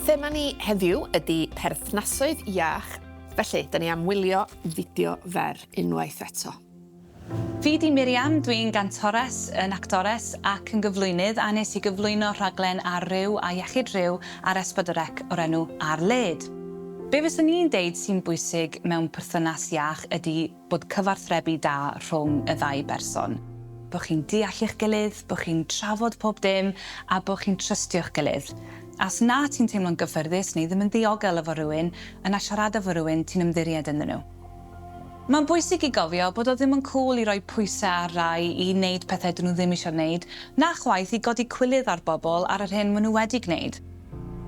Thema ni heddiw ydy perthnasoedd iach, felly, da ni am wylio fideo fer unwaith eto. Fi 'di Miriam, dwi'n gantores, yn actores ac yn gyflwynydd a nes i gyflwyno rhaglen ar Ryw a Iechyd Rhyw ar S4C o'r enw 'Ar Led'. Be fyswn i'n deud sy'n bwysig mewn perthynas iach ydi bod cyfarthrebu da rhwng y ddau berson, bo chi'n deall eich gilydd, bo chi'n trafod pob dim a bo chi'n trystio'ch gilydd. A os na ti'n teimlo'n gyffyrddus neu ddim yn ddiogel efo rhywun, yna siarada 'fo rhywun ti'n ymddiried ynddyn nhw. Mae'n bwysig i gofio bod o ddim yn cŵl i roi pwysau ar rai i wneud pethau 'dyn nhw ddim isio wneud, na chwaith i godi cwilydd ar bobl ar yr hyn maen nhw wedi gwneud.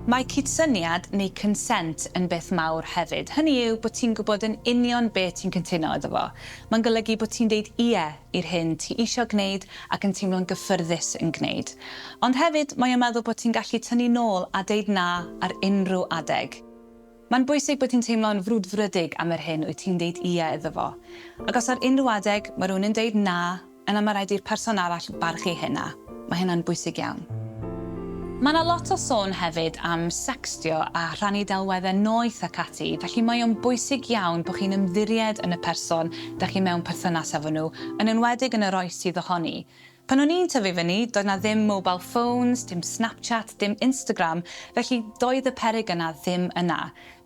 Mae cydsyniad neu consent yn beth mawr hefyd, hynny yw bod ti'n gwybod yn union be ti'n cyntuno iddo fo. Mae'n golygu bod ti'n deud 'ie' i'r hyn ti isio gwneud ac yn teimlo'n gyffyrddus yn gwneud. Ond hefyd mae o'n meddwl bod ti'n gallu tynnu nôl a deud 'na' ar unrhyw adeg. Mae'n bwysig bod ti'n teimlo'n frwdfrydig am yr hyn wyt ti'n deud 'ie' iddo fo. Ac os ar unrhyw adeg mae rhywun yn deud 'na', yna mae rhaid i'r person arall barchu hynna. Mae hynna'n bwysig iawn. Mae 'na lot o sôn hefyd am secstio a rhannu delweddau noeth ac ati, felly mae o'n bwysig iawn bod chi'n ymddiried yn y person dach chi mewn perthynas efo nhw, yn enwedig yn yr oes sydd ohoni. Pan o'n i'n tyfu fyny, doedd 'na ddim mobile phones, dim Snapchat, dim Instagram, felly doedd y peryg yna ddim yna.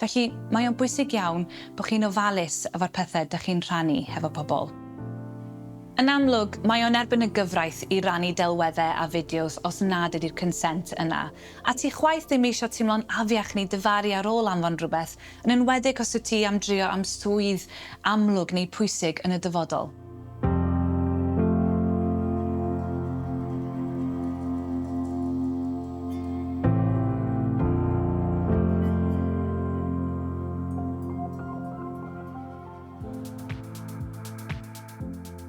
Felly, mae o'n bwysig iawn bod chi'n ofalus efo'r pethe dych chi'n rhannu hefo pobl. Yn amlwg, mae o'n erbyn y gyfraith i rannu delwedde a fideos os nad ydi'r consent yna. A ti chwaith ddim eisio teimlo'n afiach neu difaru ar ôl anfon rhywbeth, yn enwedig os wyt ti am drio am swydd amlwg neu pwysig yn y dyfodol.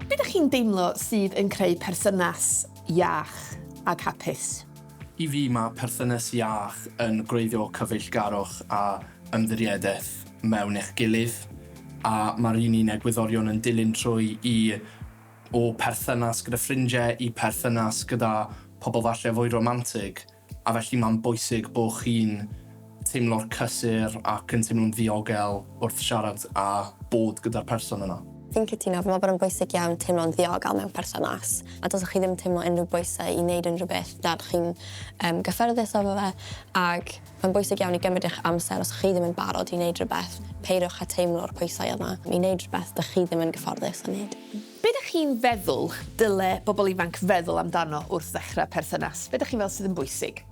Be dych chi'n deimlo sydd yn creu perthynas iach ac hapus? I fi, mae perthynas iach yn gwreiddio cyfeillgarwch a ymddiriedaeth. mewn eich gilydd, a mae'r un i'n egwyddorion yn dilyn trwy i o perthynas gyda ffrindiau i perthynas gyda pobl falle fwy romantig, a felly mae'n bwysig bod chi'n teimlo'r cysur ac yn teimlo'n ddiogel wrth siarad a bod gyda'r person yna. Fi'n cytuno, fi'n meddwl bod e'n bwysig iawn teimlo'n ddiogel mewn perthynas, a dylsech chi ddim teimlo unrhyw bwysau i wneud unrhyw beth nad chi'n gyffyrddus efo fe, ac Mae'n bwysig iawn i gymryd eich amser os chi ddim yn barod i wneud rhywbeth, peidiwch â teimlo'r pwysau yma i wneud rhywbeth dych chi ddim yn gyfforddus â wneud. Be ydych chi'n feddwl dyle bobl ifanc feddwl amdano wrth ddechrau perthynas? Be ydych chi'n meddwl sydd yn bwysig?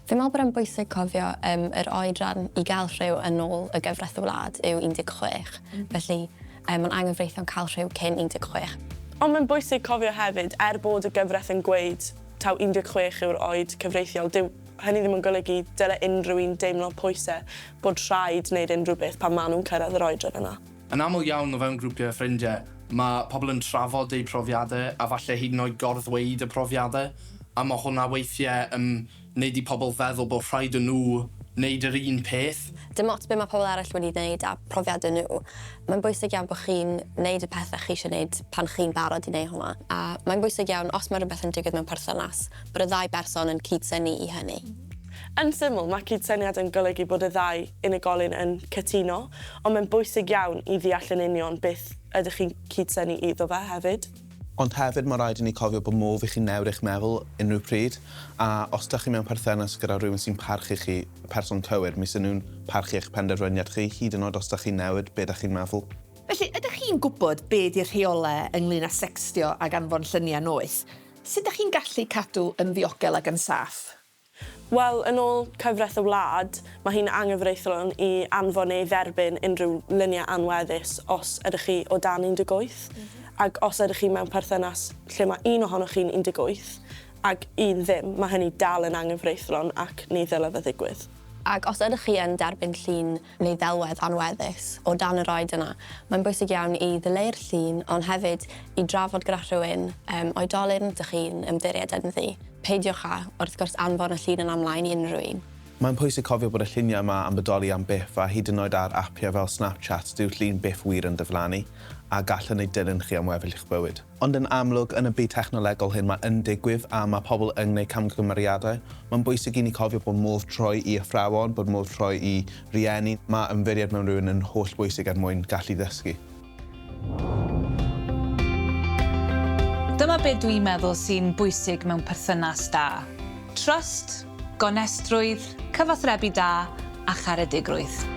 Fi'n meddwl bod e'n bwysig cofio yym yr oedran i gael rhyw yn ôl y gyfraith y wlad yw 16, felly yy mae'n anghyfreithlon cael rhyw cyn 16. Ond mae'n bwysig cofio hefyd, er bod y gyfraith yn gweud taw 16 yw'r oed cyfreithiol, dyw Hynny ddim yn golygu dyle unrhyw un deimlo pwysau bod rhaid wneud unrhyw beth pan maen nhw'n cyrraedd yr oedran yna. Yn aml iawn o fewn grwpiau ffrindiau, mae pobl yn trafod eu profiadau a falle hyd yn oed gor-ddweud y profiadau, a mae hwnna weithiau yn wneud i pobl feddwl bod rhaid i nhw wneud yr un peth. Dim ots be mae pobl eraill wedi wneud a phrofiadau nhw, mae'n bwysig iawn bod chi'n wneud y pethau chi eisiau wneud pan chi'n barod i wneud hwnna. A mae'n bwysig iawn, os mae rhywbeth yn digwydd mewn perthynas, bod y ddau berson yn cyd-synnu i hynny. Yn syml, mae cyd-syniad yn golygu bod y ddau unigolyn yn cytuno, ond mae'n bwysig iawn i ddeall yn union beth ydych chi'n cyd-synnu iddo fe hefyd. Ond hefyd, mae'n rhaid i ni cofio bod modd i chi newid eich meddwl unrhyw pryd, a os dych chi mewn perthynas gyda rhywun sy'n parchu chi, y person cywir, mi 'sen nhw'n parchu eich penderfyniad chi, hyd yn oed os dych chi'n newid be dych chi'n meddwl. Felly, ydych chi'n gwybod be 'di'r rheolau ynglŷn â secstio ac anfon lluniau noeth? Sut dach chi'n gallu cadw yn ddiogel ac yn saff? Wel, yn ôl cyfraith y wlad, mae hi'n anghyfreithlon i anfon neu dderbyn unrhyw luniau anweddus os ydych chi o dan 18, ac os ydych chi mewn perthynas lle mae un ohonoch chi'n 18 ac un ddim, mae hynny dal yn anghyfreithlon ac ni ddylai fe ddigwydd. Ac os ydych chi yn derbyn llun neu ddelwedd anweddus o dan yr oed yna, mae'n bwysig iawn i ddileu'r llun ond hefyd i drafod gyda rhywun, yym, oedolyn rydych chi'n ymddiried ynddi. Peidiwch â, wrth gwrs, anfon y llun yna ymlaen i unrhyw un. Mae'n pwysig cofio bod y lluniau yma am bodoli am byth a hyd yn oed ar apiau fel Snapchat dyw'r llun byth wir yn diflannu a gallen eu dilyn chi am weddill eich bywyd. Ond yn amlwg, yn y byd technolegol hyn mae yn digwydd a mae pobl yn gwneud camgymeriadau. Mae'n bwysig i ni cofio bod modd troi i athrawon, bod modd troi i rieni, mae ymddiried mewn rhywun yn hollbwysig er mwyn gallu dysgu. Dyma be dwi'n meddwl sy'n bwysig mewn perthynas da. Trust. gonestrwydd, cyfathrebu da a charedigrwydd.